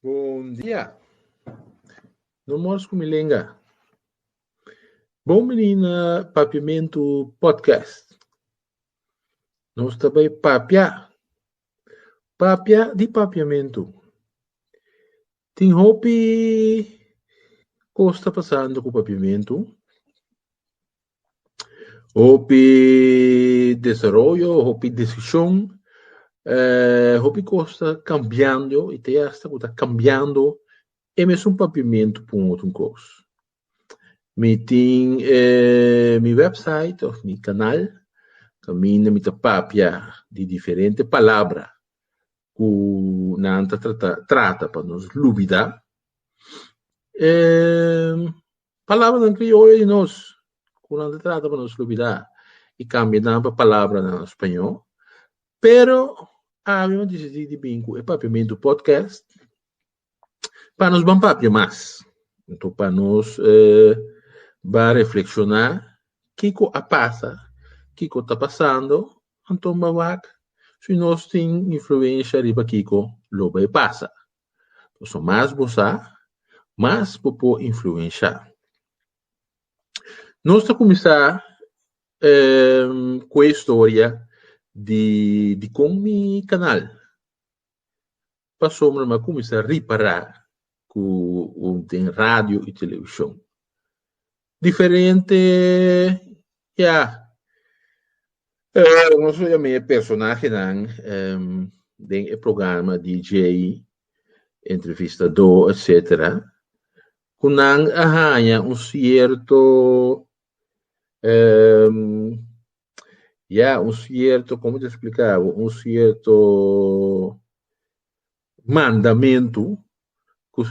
Bon dia. No mors ku mi lenga. Bon bini na Papiamentu Podcast. Nos ta bai papia. Papia di papiamentu. Tin hopi kos ta pasando ku papiamentu. Hopi desaroyo, hopi desishon, eh, hopi kos ta kambiando i te asta ku ta kambiando e mesun papiamentu pa un otro kos. Mi tin e mi wèpsait òf mi kanal kaminda mi ta papia di diferente palabra ku nan ta trata trata pa nos lubidá. Palabranan krioyo di nos ku nan ta trata pa nos lubidá i kambia nan pa palabranan spañó. Pero awe mi a disidí di bin ku e Papiamentu podcast pa nos ban papia mas, nto pa nos ban reflekshoná kiko a pasa, kiko ta pasando, anto mi a wak si nos tin influensha riba kiko lo bai pasa. Pasobra mas bo sa, mas bo por influensha. Nos ta kuminsá ku e historia di dikon mi kanal pasobra mi a kuminsá ripará ku den radio i televishon Diferente ya nos lo yam'é e personahenan den e programa DJ, entrevistadó etcetera ku nan a haña un sierto Ya, un sierto, como te explica bo, un sierto mandamento cu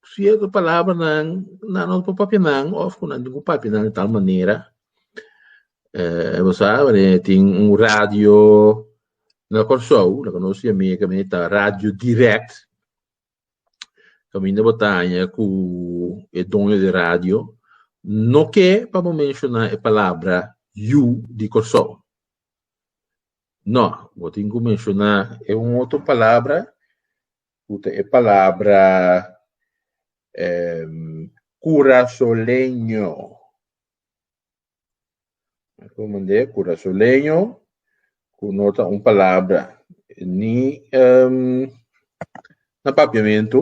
sierto palabranan nan no por papinan of cu nan tin cu papinan di tal manera. Eh, bo sa, e tin un radio na Kòrsou, lo cu nos ciami, e caminda ta Radio Direct. Caminda bo ta haña cu e doño di radio no ke pa bo menciona e palabra yu di Corsou. No, bo tin cu menciona e un otro palabra cu ta e palabra Curasoleño. Ku mand'é kura su leño ku no ta un palabra ni na papiamentu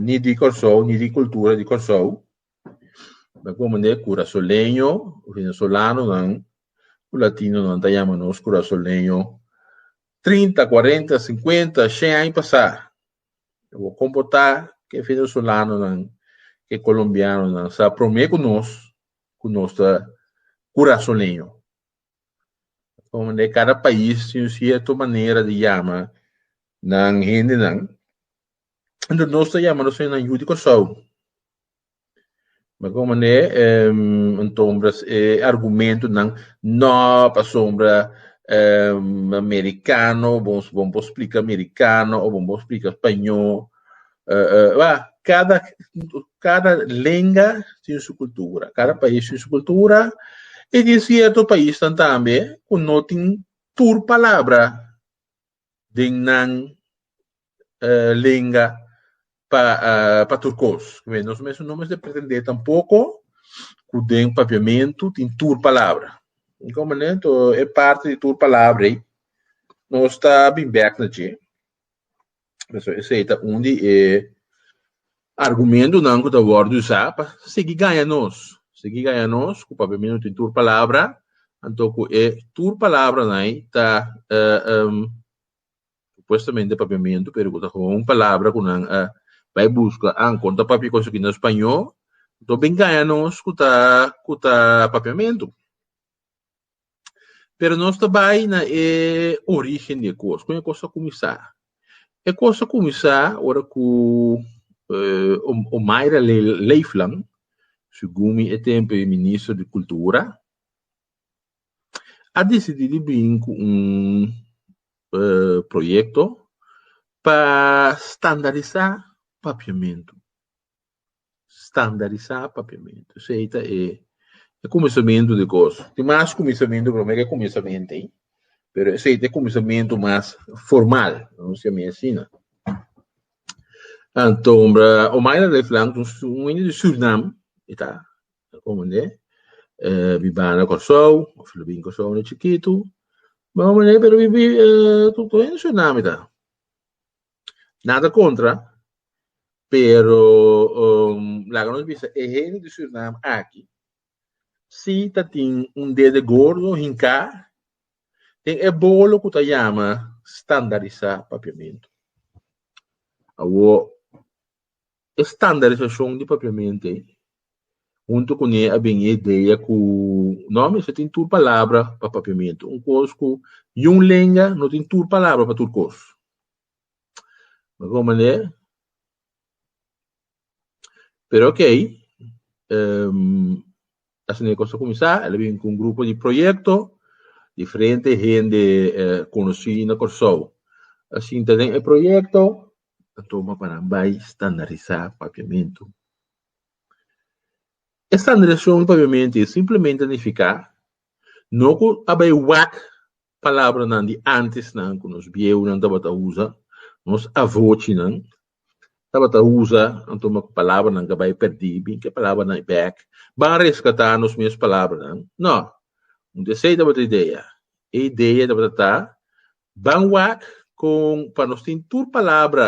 ni di Kòrsou ni di kultura di Kòrsou. Ta ku mand'é kura su leño venezolanonan ku latinonan ta yama nos kura su leño trinta, kuarenta, sinkuenta, shen aña pasá. E bo komportá ku e venezolanonan, ku e kolombianonan sa promé ku nos ku nos ta kurasoneño. Pasobra kada pais tin un sierto manera di yama nan hendenan. Entos nos ta yama nos hendenan yu di Kòrsou. Meko manera e entombra e argumentonan no pasobra e merikano bon bon por splika merikano o bon por splika spañó a kada kada lenga tin su kultura kada pais tin su kultura i tin sierto paisnan tambe ku no tin tur palabra. den nan uh lenga pa uh pa tur cos. Kibe? Nos mes no mester pretende tampoco cu den Papiamentu tin tur palabra. Y como ne to e parti di tur palabra ei nos ta bin bek na dje. Pasobra esei ta un di e Argumentunan ku ta wòrdu usá pa sigui gaña nos. Sigui gaña nos ku papia mi no tin tur palabra, anto ku e tur palabranan ei ta supuestamente papiamentu pero ku ta kon un palabra ku nan a bai buska an kon ta papia kos aki na spañó, anto ben gaña nos ku ta ku ta papiamentu. Pero nos ta bai na e origen di e kos, kon e kos a kuminsá. E kos a kuminsá ora ku Omaira Leefland, segun mi e tempu e minister di kultura, a disidí di bin ku un proyekto pa standarisá papiamentu. standarisá papiamentu. So ei ta e e kuminsamentu di kos. Tin mas kuminsamentu, pero mira e kuminsamentu ei, pero esei ta e kuminsamentu mas formal, nos yama e asina. Antombra Omaira Leeflang ta un su un hende di Surinam i ta komunde bibá na Kòrsou òf lo bin Kòrsou unda chikitu, pero bibí tutu hende di Surinam i ta. Nada contra, pero laga nos bisa e hende di Suriname aki si ta tin un dede gordo hinca den e bolo cu ta yama standardisa papiamento. Awor, E standarisashon di papiamente huntu ku ne a bini e idea ku no mester tin tur palabra pa papiamentu. Un kos ku yun lenga no tin tur palabra pa tur kos. Bo kon manera? Pero okay asina e kos a kuminsá. El a bini ku un grupo di proyekto, diferente hende konosí na Kòrsou a sinta den e proyekto. ta toma pa nan bai standarisá papiamentu. E standarisashon di papiamentu i simplemente ta nifiká no ku a bai wak palabranan di antesnan ku nos bieunan tabata usa, nos avochinan tabata usa anto me ku palabranan ka bai pèrdí, bin ke palabranan bèk ban reskatá nos mes palabranan. Nò, un di esei tabata idea. E idea tabata ta Ban wak con pa nos tin tur palabra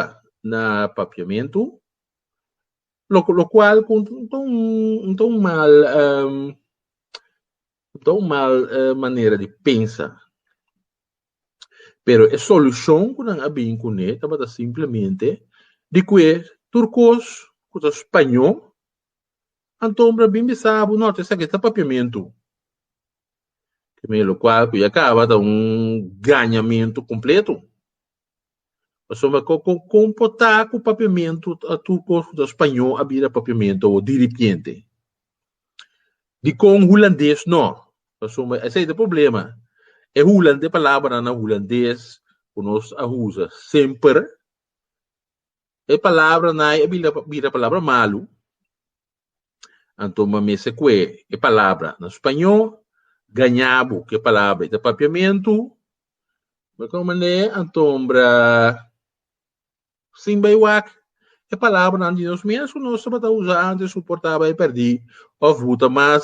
na papiamentu, lo lo cual cu no ta un no ta un mal ehm no ta un mal manera di pensa, pero e solucion cu nan a bin cu ne tabata simplemente di cue tur cos cu ta spaño anto bo a bin bisa bo no esaki ta papiamentu. Kemi lo kual ku ya kaba ta un gañamentu kompletu. Pasobra ku kon komportá ku papiamentu ta tur kos ku ta spañó a bira papiamentu awor diripiente. Dikon hulandes no? Pasobra esei ta e problema. E hulan e palabranan hulandes ku nos a usa semper e palabranan ei a bira bira palabra malu. Anto bo mester kue e palabra. Na spañó, gañá bo ku e palabra i ta papiamentu. Bo kòm manera ei? Anto sin bai wak e palabranan di nos mes ku nos tabata usá ante, suportá bai pèrdí òf bo ta mas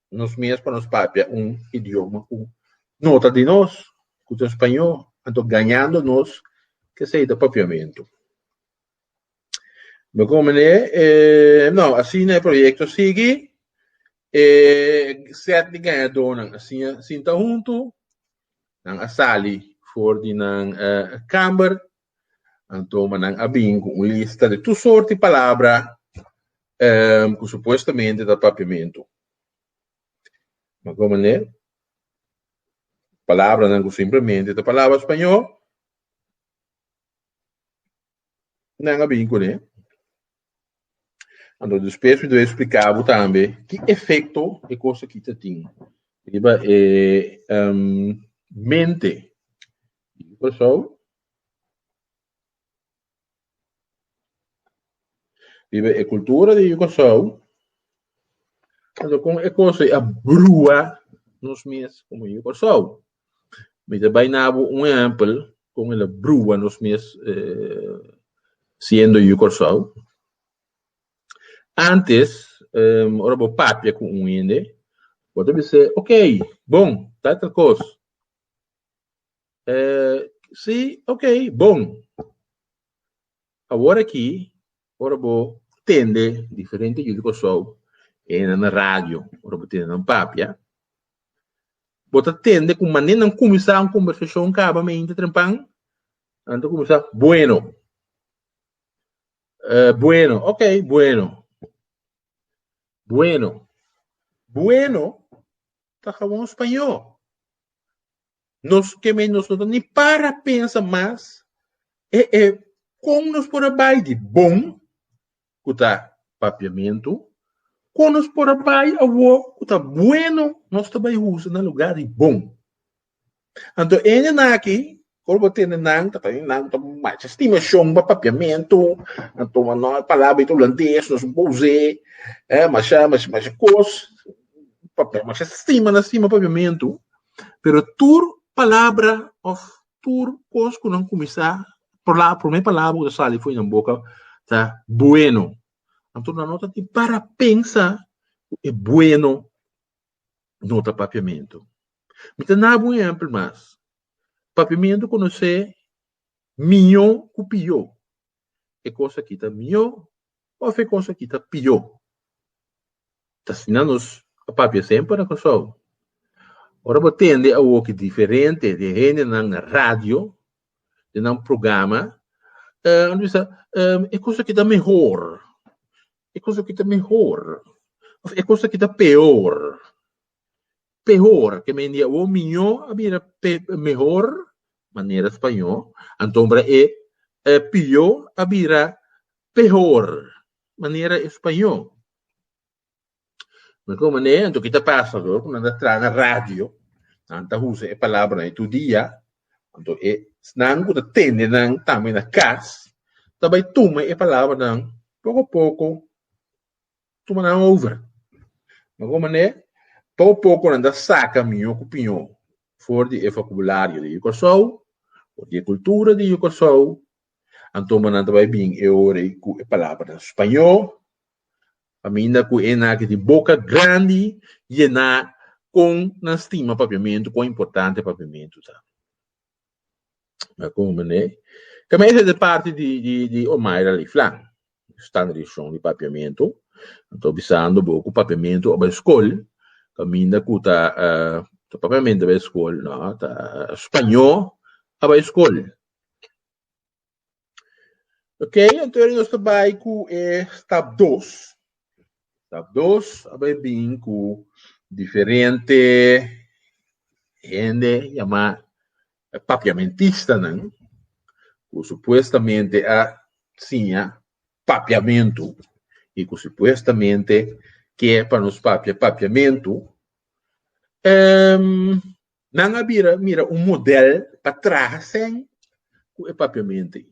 nos mes pa nos papia un idioma ku no ta di nos, ku ta spañó, anto gañando nos kesei ta papiamentu. Mi komende e no, asina e proyekto sigui, e sèt di gañadónan a siña sinta huntu, nan a sali for di nan kamber Anto mannan a bin cu un lista di tur sorti palabra cu supuestamente ta Papiamentu. Ma como ne? Palabranan cu simplemente ta palabra Spañol, nan a bin cu ne. Anto despues mi debe explica bo tambe ki efecto e cos aki ta tin riba e mente. Pasobra riba e cultura di Rio Curaçao con e cos a brua nos mes como Rio Curaçao. Mi ta bai na bo un ehempel kon el a brua nos mes siendo yu Kòrsou. Ántes, ora bo papia ku un hende, bo ta bis'é, ok, bon, tal tal kos. Si, ok, bon. Awor aki Ora bo tende diferente yu di Kòrsou e nan na radio, ora bo tende nan papia, bo ta tende ku manera nan kuminsá un kombersashon kaba mente trempan, nan ta kuminsá Bueno, Bueno, ok, Bueno, Bueno. Bueno ta gawon spañó. Nos ke me nos no ta ni para pensa mas e e kon nos por a bai di bon ku ta papiamentu, kon nos por a bai awor ku ta bueno, nos ta bai husa na lugá di bon. Anto e hende nan aki kor bo tende nan ta tene nan ku ta masha stimashon pa papiamentu, anto no e palabra ita hulandes nos bo us'é eh masha masha kos pa masha stima na stima papiamentu. Pero tur palabra of tur kos ku nan kuminsá, palabra, promé palabra ku ta sali for di nan boka ta Bueno. Anto nan no ta tin para pensa ku e Bueno no ta Papiamentu. Mi ta naba un ehèmpel mas. Papiamentu konosé miñó ku pió. e cos aki ta mihó of e cos aki ta pihó. Ta asina nos a papia semper na Kòrsou. Ora bo tende awoki diferente di e hendenan na radio, den nan programa, nan ta bisa, e cos aki ta mehor, e cos aki ta mehor of e cos aki ta peor. pehor, ke men di awor miñó a bira pe mehor, manera spañó, antombra e pió a bira pehor, manera españó. Mira kon manera anto ki ta pasa lo ku nan ta traha na radio, nan ta usa e palabranan tur dia, anto esnan ku ta tende nan tambe na kas ta bai tuma e palabranan poko poko tuma nan over. Mira como ne pao poco nan ta saca miño cu piño for di e focabulario di Curaçao of di e cultura di Curaçao anto nan ta bay bin e ora ey cu e palabranan spaño paminda cu e naki di boca grandi yena con nan stima papiamento cuan importante papiamento ta. Kon manera ei? Ka mester di parti di Omaira li flan, stanga di shon di papiamentu. Ta bisando bo ku papiamentu aba e skol, kaminda ku ta papiamentu aba e skol, no, ta spañó aba e skol. Ok, anto ahora nos ta bai cu e stap 2. Stap 2 a bai bin cu diferente hende llama papiamentistanan, cu supuestamente a siña papiamentu y cu supuestamente kier pa nos papia papiamentu. Nan a bira mira un modèl pa traha sèn ku e papiamentu ei.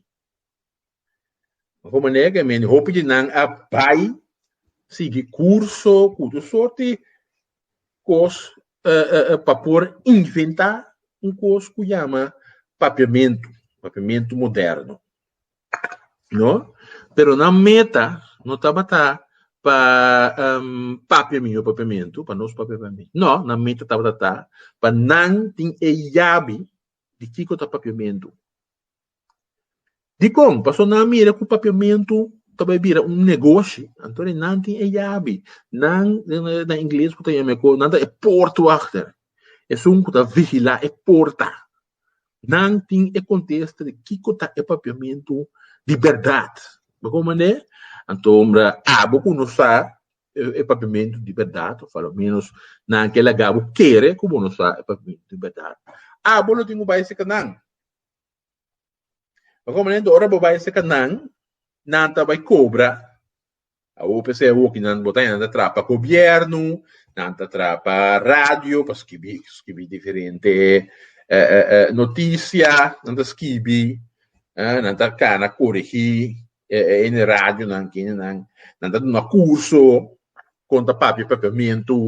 Bai por manera ku e mente hopi di nan a bai sigui kurso ku otro sort di kos pa por inventá un kos ku yama papiamentu, papiamentu moderno. No. Pero nan meta no tabata pa papia mi, no papiamentu, pa nos papia pa mi. No, nan meta tabata ta pa nan tin e yabi di kiko ta papiamentu. Dikon? Pasobra nan a mira ku papiamentu ta bai bira un negoshi, anto di nan tin e yabi. Nan, na ingles ku ta yama e kos, nan ta e poortwachter. Esun ku ta vigilá e porta. Nan tin e contesta di kico ta e Papiamentu di berdad. Bo con manera? Anto abo cu no sa e Papiamentu di berdad, of alomenos nan ke laga bo kere cu bo no sa e Papiamentu di berdad, abo lo tin cu bay seca nan. Bo con manera? Anto ora bo bay seca nan, nan ta bay cobra. A hopi esei a wokinan bo ta hende ta trapa gobierno, nan ta trapa radio pa skibi skibi diferente noticia, nan ta skibi, nan ta kana korigi e hende radionan ke hende nan ta duna kurso kon ta papia papiamentu.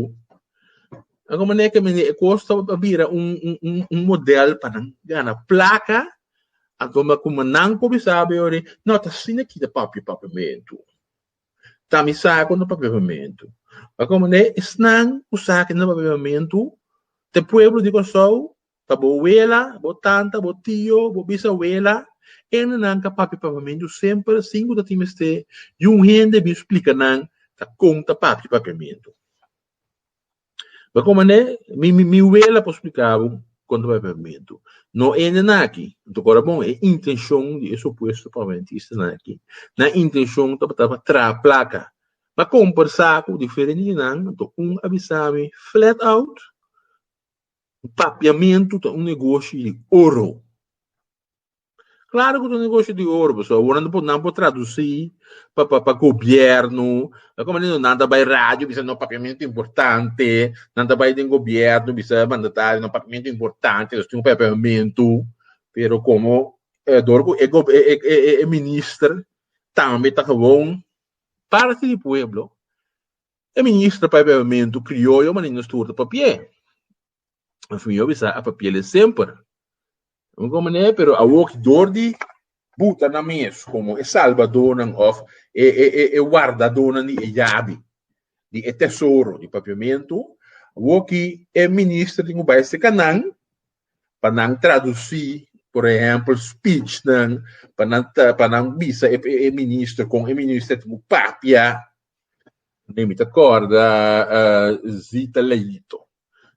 Nan ku manera ke e kos ta bira un un un modèl pa nan gana plaka Anto ku mi nan kuminsá a biba ri, no ta asina aki ta papia papiamentu. Ta mi sa ku no papia papiamentu. Pa kiko manera esnan ku sa ku no papia papiamentu ta e pueblo di Kòrsou, ta bo wela, bo tanta, bo tio, bo bisawela, e hende nan ka papia papiamentu semper sin ku ta tin mester di un hende bin splika nan ta kon ta papia papiamentu. Pero como ne, mi, mi, mi wela por explicar bo cuanto pa e pavimento. No ende na aki. Nta cora bon, e intencion di e supuesto pavimentista nan aki, nan intencion tabata pa traha placa. Ma compersa cu diferente di nan, anto un a bisa mi flat out, papiamento ta un negoshi di oro. Claro cu ta un negocio di oro, pasobra awonan por nan por traduci pa pa pa gobierno, ta como di nan ta bay radio bisa no papia mi no ta importante, nan ta bay den gobierno bisa mandatario no papia mi no ta importante, nos tin un papiamento, pero como e dor cu e gob e e e minister tambe ta gewoon parti di pueblo, e minister papiamento crioyo manin nos tur ta papia. Mas mi yo bisa a papiele semper. Un como ne, pero a wok door di buta na mes como e salvadonan of e, e, e, e wardadonan di e yabi, di e tesoro, di papiamento, woki e minister tin ku bai se kanan pa nan traduci, por ehempel, speechnan, pa nan, pa nan bisa e, e minister kon e minister tin ku papia. Mi ta korda uh, Zita Leito.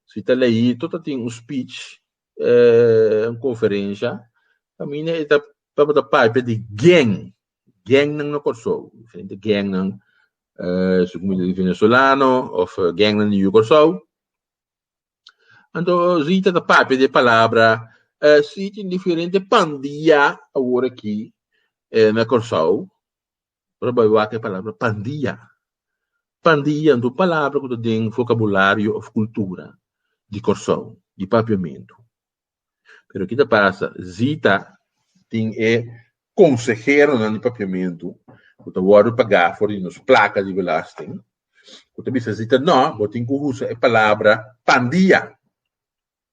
Si ta leíto ta tin un speech, un conferencia, pamina e ta tabata papia di gang, gangnan na Corsou, diferente gangnan, su cu mi ta di venezolano of gangnan di New Corsou. Anto Rita ta papia di e palabra, si tin diferente pandia awor aki na Corsou. Ora bo a wak e palabra pandia. Pandia no ta un palabra ku ta den vocabulario òf kultura di Kòrsou, di Papiamentu. Pero ki ta pasa, Zita tin e konseheronan di Papiamentu ku ta wòrdu pagá for di nos plaka di belasting ku ta bisa Zita, nò, bo tin ku usa e palabra pandia.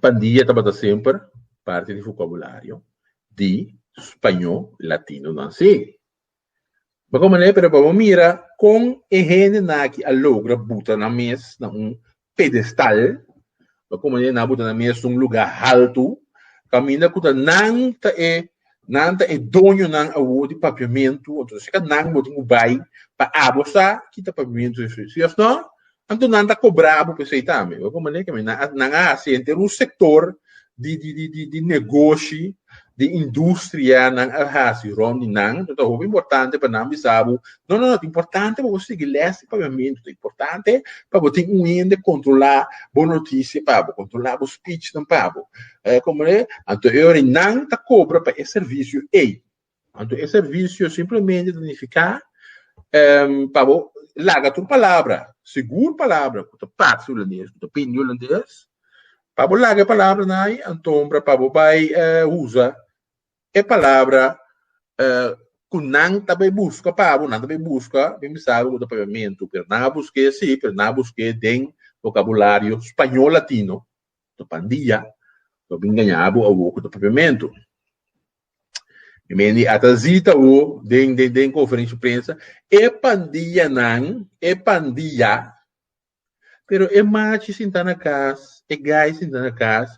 Pandilla tabata semper parti di fokabulario di spañó latinonan sí. Pa kon manera? Pero pa bo mira kon e hendenan aki a logra buta nan mes na un pedestal, pa kon manera nan a buta nan mes na un lugá haltu, kaminda ku ta nan ta e Nan ta e doñonan awor di papiamentu, anto si ka nan bo tin ku bai pa abo sa kita papiamentu esei. Si yes nò, anto nan ta kobrá bo pa esei tambe. Wak un manera ke nan a nan a hasi henter un sektor di di di di di negoshi, di industria nan a hasi rònt di nan. Anto ta hopi importante pa nan bisa bo, no no no ta importante pa bo sigui lès di papiamentu, ta importante pa bo tin un hende kontrolá bo notisia pa bo, kontrolá bo spich nan pa bo. Oja como ta, anto e ora nan ta cobra pa e servicio ey, anto e servicio simplemente ta nifica pa bo laga tur palabra, segur palabra cu ta parsi hulandes, cu ta bindi hulandes, pa bo laga e palabra nan ey, antombra pa bo bay usa e palabra cu nan ta bay busca pa bo, nan ta bay busca, mi mi sabi cu ta paviamento, pero nan a busca e si, pero nan a busca e den vocabulario spañol latino, ta pandia, lo bin gaña abo awo ku ta papiamentu. Mi mendi a ta zita awo den den den konferenshi prensa e pandianan, e pandia, pero e machi sinta na kas, e gai sinta na kas,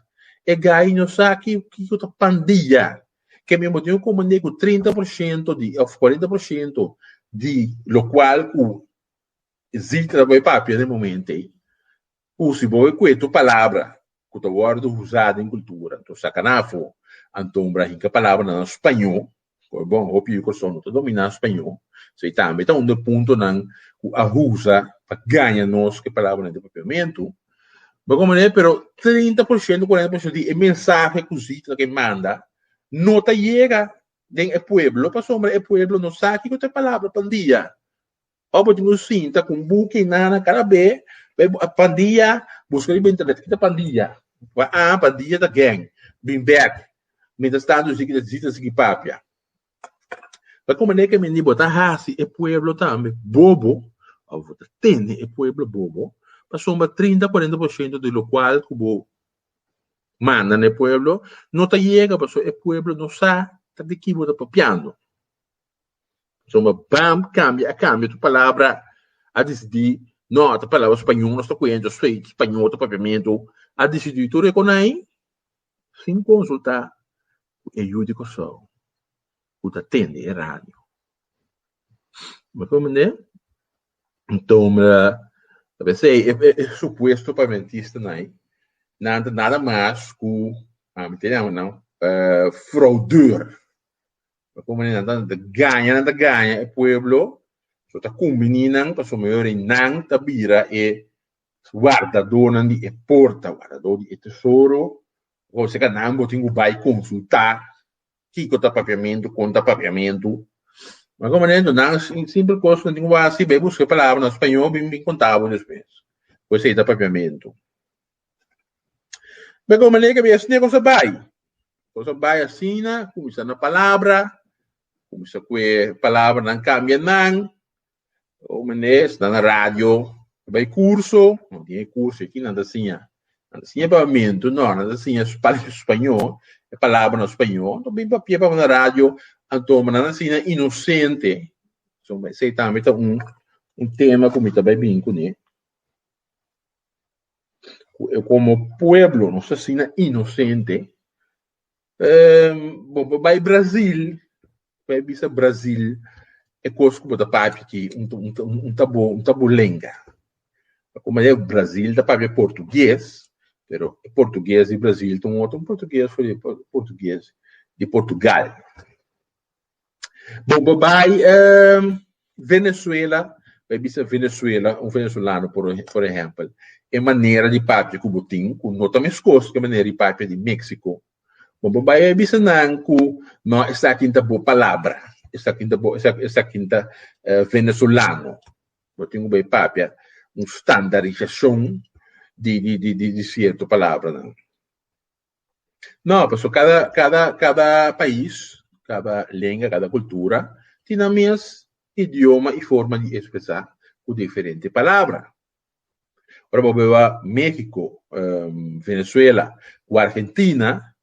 e gai no sa ki kiko ta pandia. Ke mi bo tin ku mende ku trinta por shento di òf kuarenta por shento di lokual ku zita ta por papia den momente Cu si bo e cueto palabra cu ta wordo usa den cultura anto saca nan afo, anto mira hinca palabra nan spaño, cu e bon hopi di corazon no ta domina spaño, so e tambe ta un de puntonan cu a usa pa gaña nos cu e palabranan di papiamentu, mira como manera, pero trinta por ciento, cuarenta por ciento di e mensahe cu Zita ta kere manda no ta yega den e pueblo pasobra e pueblo no sa kico ta e palabra pa un dia, Ora bo tin un sinta ku un buki i nana kada be be a pandia buska riba internet kita pandia a a pandia ta gèng bin bèk mientras tanto yu si kita di ta sigui papia ta kon manera ke mindi bo ta hasi e pueblo tambe bobo ora bo ta tende e pueblo bobo pasobra trinta kuarenta por shento di lo kual ku bo manda na e pueblo no ta yega pasobra e pueblo no sa ta di ki bo ta papiando. So mi bam kambia a kambia tur palabra, a disidí nò ta palabra spañó nos ta kué anto so ei spañó ta papiamentu, a disidí tur e konai sin konsultá ku e yu di Kòrsou ku ta tende e radio. Mi komprendé? Anto mi ta pensé e supuesto papiamentistunai nan ta nada mas ku mi ta yama nan fraudeur. Lo como nan ta gaña, nan ta gaña e pueblo, so ta cumbini nan pasobra meyor di nan ta bira e guardadonan di e porta, guardador di e tesoro, o si ka nan bo tin cu bay consulta kico ta Papiamento, con ta Papiamento. Lo como nan ento nan un simple cos nan tin cu bay hasi, bay busca e palabra na Español, bin bin conta bo despues cu esey ta Papiamento. Be kon manera ke be esne kon sa bai? Kon sa bai asina, kuminsá na palabra, kuminsá ku e palabranan kambia nan, un mes nan na radio bai kurso, nan tin e kurso aki nan ta siña, nan ta siña pabamentu, nò nan ta siña palabra spañó, e palabranan spañó, nan bin papia pa bo na radio, anto bo nan a siña inosente, esei tambe ta un un tema ku mi ta bai bini kuné. cu e como pueblo nos ta asina inocente, ehm, bo bo bai Brazil, bai bisa Brazil e cos cu bo ta papia aki un ta un ta un ta bo un ta bo lenga. Ta como e Brazil ta papia portugues, pero e portugues di Brazil ta un otro portugues, for di por portugues di Portugal. Bon bo bai Venezuela bo a bisa Venezuela un venezolano por ehempel e manera di papia ku bo tin ku no ta meskos ku e manera di papia di Mexico bon bo bai a bisa nan ku no esaki ta bo palabra esaki ta bo esaki ta venezolano bo tin ku bai papia un standarisashon di di di sierto palabranan. No, paso cada cada cada pais, cada lenga, cada cultura tin nan mes idioma y forma di expresa cu diferente palabra. Ora bo beba Mexico, Venezuela cu Argentina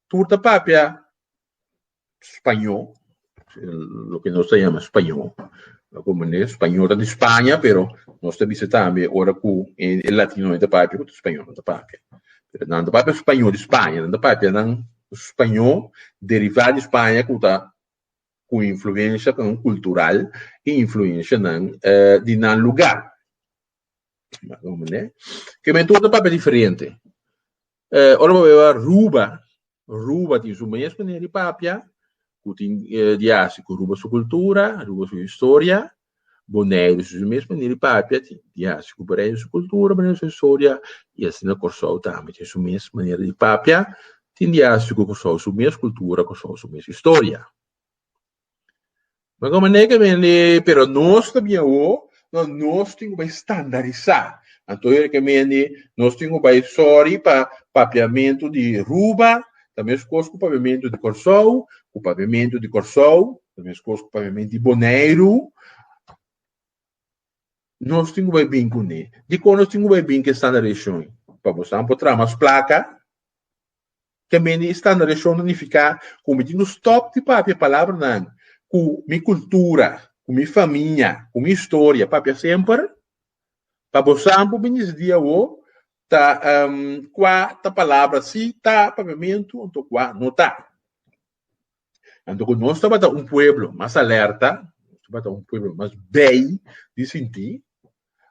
tur ta papia spañó, loke nos ta yama spañó, ku manera spañó ta di Spaña, pero nos ta bisa tambe ora ku e latinonan ta papia otro spañó nan ta papia. Pero nan ta papia spañó di Spaña, nan ta papia nan spañó derivá di Spaña ku ta ku influenshanan kultural i influenshanan di nan lugá. Ku manera ke men tur ta papia diferente. Eh, ora bo beba Aruba, Aruba tin su mes manera di papia, cu tin eh, di haci cu Aruba su cultura, Aruba su historia. Boneiru tin su mes manera di papia, tin di haci cu Boneiru su cultura, Boneiru su historia, y asina Corsou tambe tin su mes manera di papia, tin di haci cu Corsou su mes cultura, Corsou su mes historia. Bo con manera que mende pero nos ta bien awo nos nos tin cu bai standarisá anto e que mende nos tin cu bai sorry pa papiamento di Aruba ta mescos cu papiamento di Corsou cu papiamento di Corsou ta mescos cu papiamento di Boneiru nos tin cu bai bin cu ne dicor nos tin cu bai bin cu e standarisacion pa bo sa bo traha mas placa Te meni e standardashon nifiká ku mi tin ku stòp di papia palabranan ku mi kultura, ku mi famia, ku mi historia papia semper? Pa bo sa bo bini di di awo ta kua ta palabra si ta papiamentu anto kua no ta. Anto ku nos tabata un pueblo mas alerta, nos tabata un pueblo mas bei di sinti,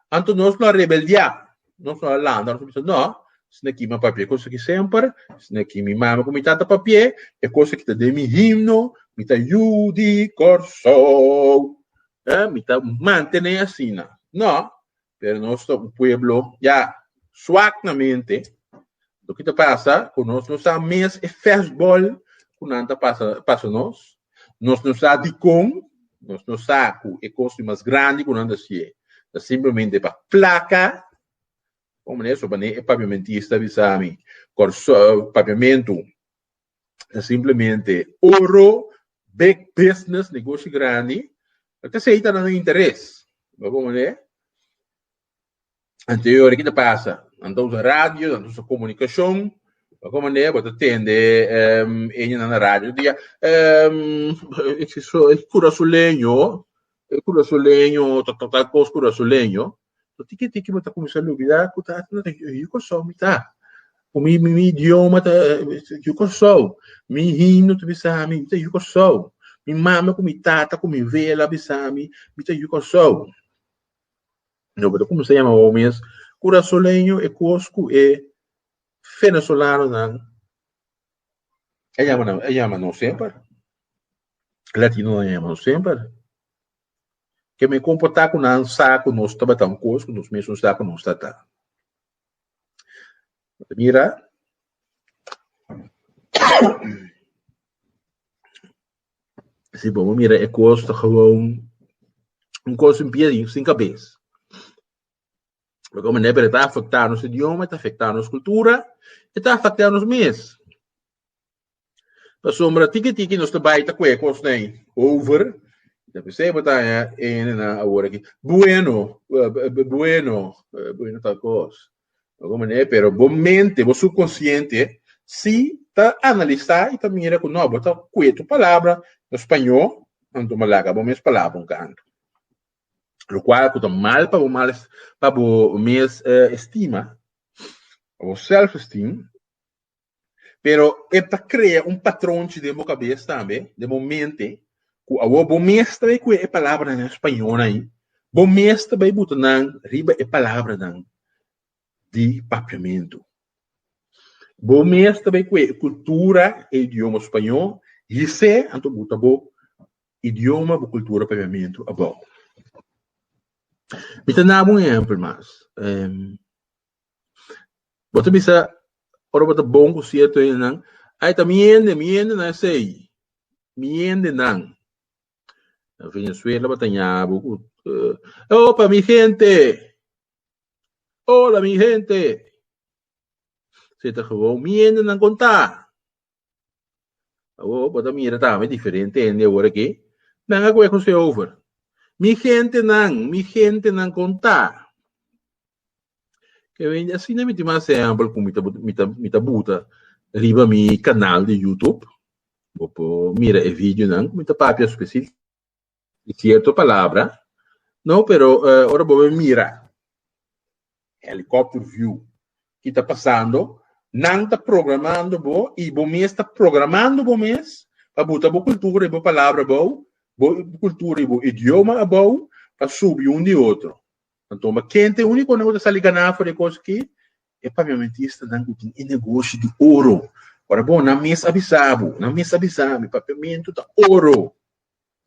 anto nos lo a rebeldiá, nos lo a landa, nos a bisa no, esei na kiman papia e kos aki semper, esei na ki mi mame ku mi tata papia, e kos aki ta den mi himno, mi ta yu di Kòrsou, mi ta mantené asina. No, pero nos ta un pueblo ya suak na mente. Loke ta pasa ku nos no sa mes e fèstbòl ku nan ta pasa pasa nos. Nos no sa dikon, nos no sa ku e kos di mas grandi ku nan ta sié ta simplemente pa plaka. Kon manera so bané e papiamentista bisa mi kòrsou papiamentu ta simplemente oro, big business, negoshi grandi, lo ta esei ta nan e interes. Bo bon mane? Anterior ki ta pasa? Nan ta usa radio, nan ta usa komunikashon, bo bon mane? Bo ta tende eña nan na radio di ya, e kurasoleño, e kurasoleño ta tal kos kurasoleño, So tiki tiki bo ta kuminsá lubidá ku ta aki nan e yu Kòrsou mi ta. Ku mi mi mi idioma ta yu Kòrsou. Mi himno ta bisa mi mi ta yu Kòrsou. Mi mame ku mi tata ku mi vela a bisa mi mi ta yu Kòrsou. No bo ta kuminsá yama bo mes kurasoleño e kos ku e fenesolanonan a yama nan a yama nos semper. Latinonan a yama nos semper. ke mi komportá ku nan sa ku nos tabata un kos ku nos mesun sa ku nos ta ta. Mira, si bo mira e kos ta gewoon un kos sin pia i sin kabes. Loke manera pero ta afektá nos idioma, ta afektá nos kultura, i ta afektá nos mes. Pasobra tiki tiki nos ta bai ta kue kosnan ei over, ta p'esei bo ta haña enenan awor aki, Bueno, bueno, bueno tal kos, bo ta manera ei, pero bo mente, bo supkonsiente si ta analisá i ta mira ku no, bo ta kue tur palabra na spañó, anto bo laga bo mes palabra un kantu. Lokual ku ta mal pa bo mal pa bo mes estima, pa bo self-esteem. Pero e ta krea un patronchi den bo kabes tambe, den bo mente, ku awor bo mes ta bai kuhe e palabranan español ai, bo mes ta bai buta nan riba e palabranan di papiamentu. Bo mes ta bai kuhe e kultura, e idioma spañol, yisé anto buta bo idioma, bo kultura, papiamentu abou. Mi ta na bo un ehèmpel mas. Bo ta bisa, ora bo ta bon ku sierto hendenan, Ai, ta mi hende, mi hendenan esei, mi hendenan. Na Venezuela bo ta ña bo ku, Epa mi hende! Ola mi hende! Esei ta gewou, Mi hendenan kon ta? Awor bo ta mira tambe diferente hende awor aki. Nan a kue kuse over mi gentenan, mi gentenan kon ta. Kevende, asina mi tin mas ehèmpel ku mi ta mi ta mi ta buta riba mi kanal di youtube. Bo por mira e videonan ku mi ta papia spesif. Di cierto palabra. No, pero ora bo a mira helicopter view ki ta pasando, nan ta programando bo y bo mes ta programando bo mes pa bo ta bo cultura y bo palabra abao, bo cultura y bo idioma abao pa subi un di otro. Anto ma kende unico nan cu ta sali gana for e cos aki e paviamentistanan cu tin e negoshi di oro. Ora bo nan mes a bisa bo, nan mes a bisa mi, paviamento ta oro.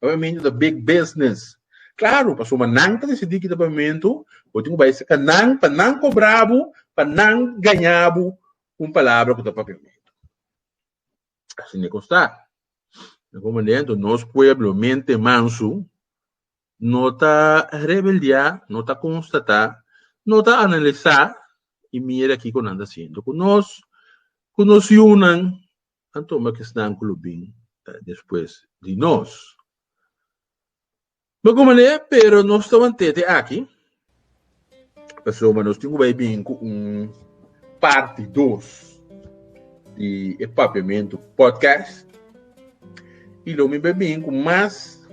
Papiamentu ta big business. Claro, pasobra ma nan ta decidi kita papiamentu, bo tin cu bay cerca nan pa nan cobra bo, pa nan gaña bo cu un palabra cu ta papiamentu. Asina e cos ta. Di algun manera, enton nos pueblo, mente mansu, no ta rebeldia, no ta constata, no ta analisa y mira kico nan ta haciendo cu nos, cu nos yunan. anto ma kesnan ku lo bin despues di nos. Bo ku manera, pero nos ta mant'é te aki, pasobra nos tin ku bai bini ku un parti dos di e Papiamentu Podcast, i lo mi bai bini ku mas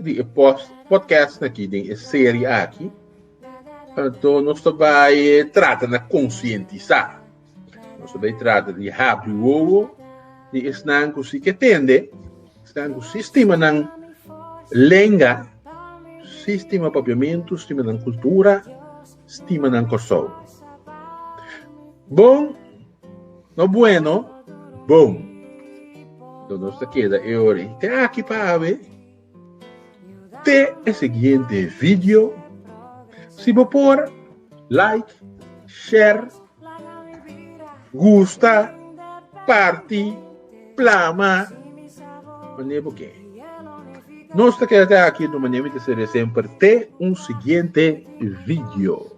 di e podcastnan aki den e serie aki, anto nos ta bai trata na konsientisá. Nos ta bay trata di happy wowo di esnan ku si ke tende, esnan ku si stima nan lenga, si stima papiamentu, stima nan kultura, stima nan Kòrsou. Bon, no bueno, bon. Don nos ta keda e ora i te aki pa awe. Te e siguiente video. Si bo por, like, share, gusta, parti, plama, mane bo ke. Nos ta keda te aki, no mane mi ta serie semper te un siguiente video.